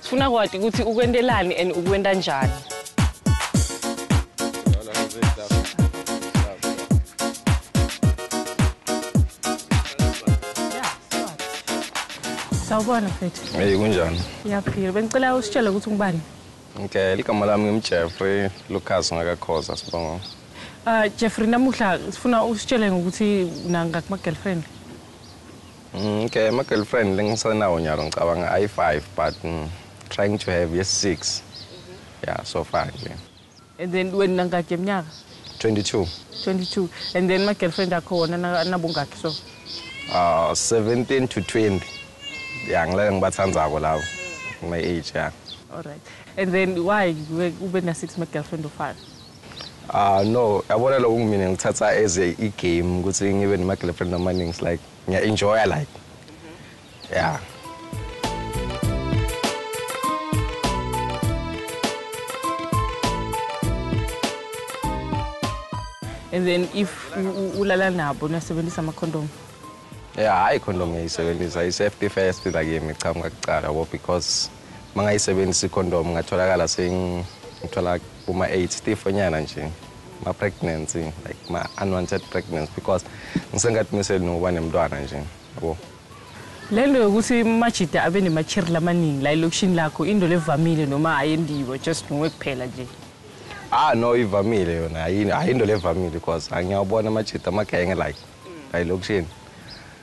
Sifuna kwati ukuthi ukwentelani and ukwenta njani. Sawubona mfethu. Hey kunjani? Ngiyaphila. Bengicela usitshele ukuthi ungubani? Okay, ligama lami ngimJeffrey Lucas ngakakhoza sibonga. Ah uh, Jeffrey namuhla sifuna usitshele ngokuthi unangakuma girlfriend. Mm, okay, ama girlfriend lengisenawo nyalo ngicabanga ayi 5 but mm, trying to have yes 6. Mhm. Yeah, so far nje. And then when nangakhe mnyaka? 22. 22. And then my girlfriend akho wona nabongakhe so? Uh, 17 to 20. Yeah, ngilale ngibathandzako labo. My age, yeah. All right. And then why ube na 6 my girlfriend of 5? Ah uh, no, yabona lokho ngimina ngithatha as a game ukuthi ngibe nama girlfriend amaningi like ngiya enjoya like yeah and then if ulala nabo niyasebenzisa ama-condom ya hayi condom ngiyisebenzisa i-safety first la kimi cha ngingakugcala bo because uma ngayisebenzisa ikhondomu ngatholakala sengithola kuma-eight stifonyana nje ma-pregnancy like ma-unwanted pregnancy because ngisengathi miseli nokuba nemntwana nje yabo le nto yokuthi umajida abe nemachiri lamaningi la elokishini lakho into levamile noma ayendiwe just nguwe kuphela nje ah no ivamile yona hayi into levamile because angiyawubona amajida amagenge like la elokishini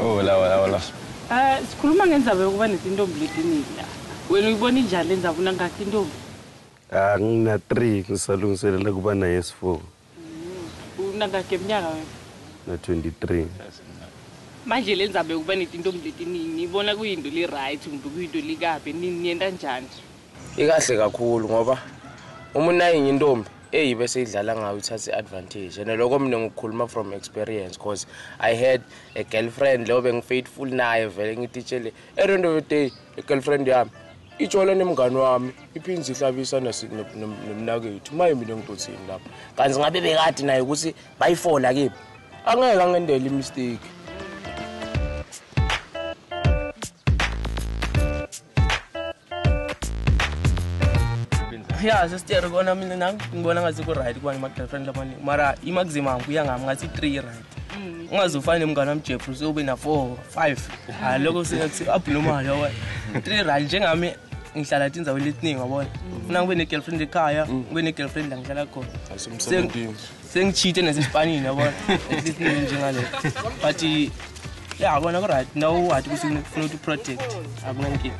Oh la wala wala. Ah sikhuluma ngenzaba yokuba nezintombi ledinini la. Wena uyibona injani lenzaba unangakhi intombi? Ah ngina 3 ngisalungiselela kuba naye S4. Mm. Unangakhi eminyaka wena? Na 23. Manje lenzaba yokuba nezintombi ledinini ibona kuyinto le right kumbe kuyinto likabi nini yenta njani? Ikahle kakhulu ngoba uma unayinye intombi eyi bese idlala ngayo ithathe advantage and lokho mina ngikhuluma from experience because i had a girlfriend leyo bengifaithful naye vele ngititshele at end of the day a girlfriend yami itshola nemngane wami iphinde ihlabisa nomnakethu maye mina ngidothini lapho kanti ngabe bekade naye ukuthi bayifola kimi angeke angendele imistake ya sesiteri kona mina nami ngibona ngathi ku-right kubani ma-girlfriend lamaningi mara i-maximum kuya ngami ngathi i-three i-right mm. ungaze ufane nomngane wami jeffrey sewube na-four five hayi lokho singathi abnormal yoko three right njengami ngihlala tinzaweni letiningi wabona funa mm. ngibe ne-girlfriend ekhaya mm. ngibe ne-girlfriend la ngihlala khona Sengichite nesespanini yabona. At least njengale. But yeah, bona ku right. Now what ukuthi ufuna to protect. Akunankinga.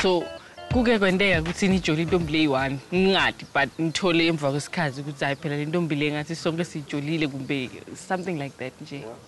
So kuke kwenteka ukuthi nijole intombi leyi-one ngingadi but ngithole emva kwesikhathi ukuthi hayi phela le ntombi le ngathi sonke siyijolile kumbe something like that nje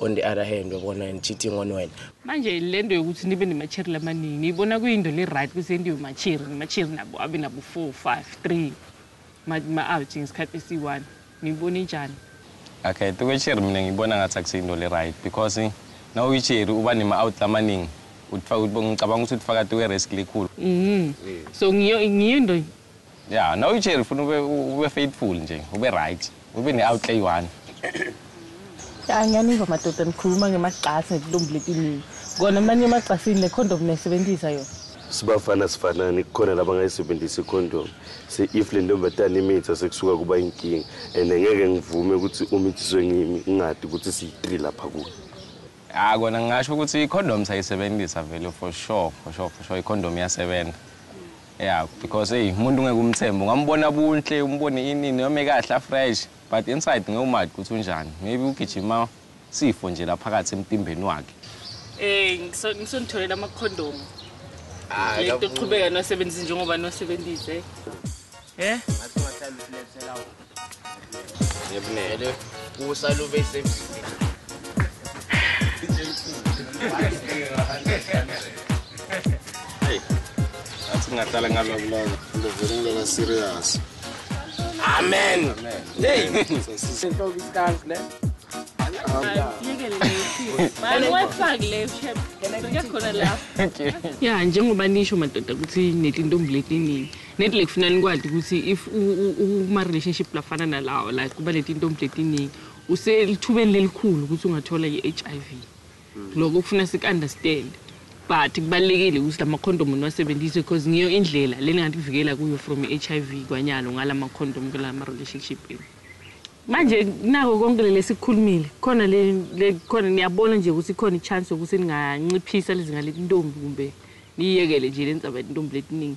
on the other hand wabona and cheating on wena manje le nto yokuthi nibe nemachiri lamaningi niyibona kuyinto le-right ukuthi entiwe machiri namachiri nabo abe nabo four five three ma-out ngesikhathi esiyi-one niyibona injani okay tukwechiri mina ngiyibona ngathi akusiyinto le-right because eh, na uyichiri uba nema-out lamaningi ngicabanga ukuthi uthi fakati we-risk likhulu mm. so ngiyo into Yeah, no uJerry ufuna ube ube faithful nje, ube right. Ube ne outlay one. Ya ngiyaniva madoda nikhuluma ngemagcasi nezintombi letiningi. Kona manje emagcasini le condom nesebenzisa yona. Sibafana sifanani kukhona labangayisebenzisa icondom. Se if le ntombazane imitha sekusuka kuba inkinga and ngeke ngivume ukuthi umithiswe ngimi ngingadi ukuthi siyi-3 lapha kuyo. Ah kona ngingasho ukuthi i-condom sayisebenzisa vele for sure, for sure, for sure i-condom iyasebenza. Yeah, because hey, umuntu ngeke umthembe. Ungambona buntle, umbone ini noma ekahle afresh, but inside ngeke umazi ukuthi unjani. Maybe ugijima sifo nje laphakathi emtimbeni wakhe. Eh, ngisonitholela ama condom. Ah, lento qhubeka nosebenza njengoba nosebenzise. Eh? Ngebinele. Kusa lube semsini. Hey. Athi ngahlala ngalobulala. Ngivele ngilala serious. Amen. Amen. Hey. Senhloko istank le. ya njengoba nisho madoda ukuthi netintombi letiningi Nedi lekufuna nikwati kutsi if ukuma-relationship lafana nalawo like kuba netintombi letiningi uselithubeni lelikhulu ukuthi ungathola i-HIV hmm. loko kufuna siku-understand but kubalulekile ukuthi lamakhondomu niwasebenzise because ngiyo indlela leningativikela kuyo from i-HIV kwanyalo ngalamakhondomu kulamarationship enu manje nako konke leli esikukhulumile khona khona niyabona nje ukuthi ikhona i-chance yokuthi ninganciphisa lezinga letintombi kumbe niyiyekele nje le ntsaba letintombi letiningi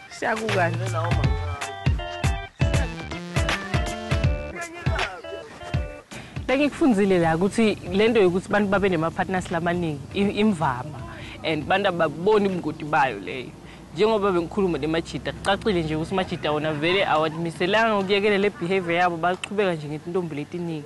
Siyakukani. Bengikufundile la ukuthi lento yokuthi abantu babe nemapartners lamaningi imvama and abantu ababoni ubungoti bayo leyo njengoba bengikhuluma nemajida kucacile nje ukuthi umajida wona vele awamiselanga ukuyekela le behavior yabo baqhubeka nje ngetintombi letiningi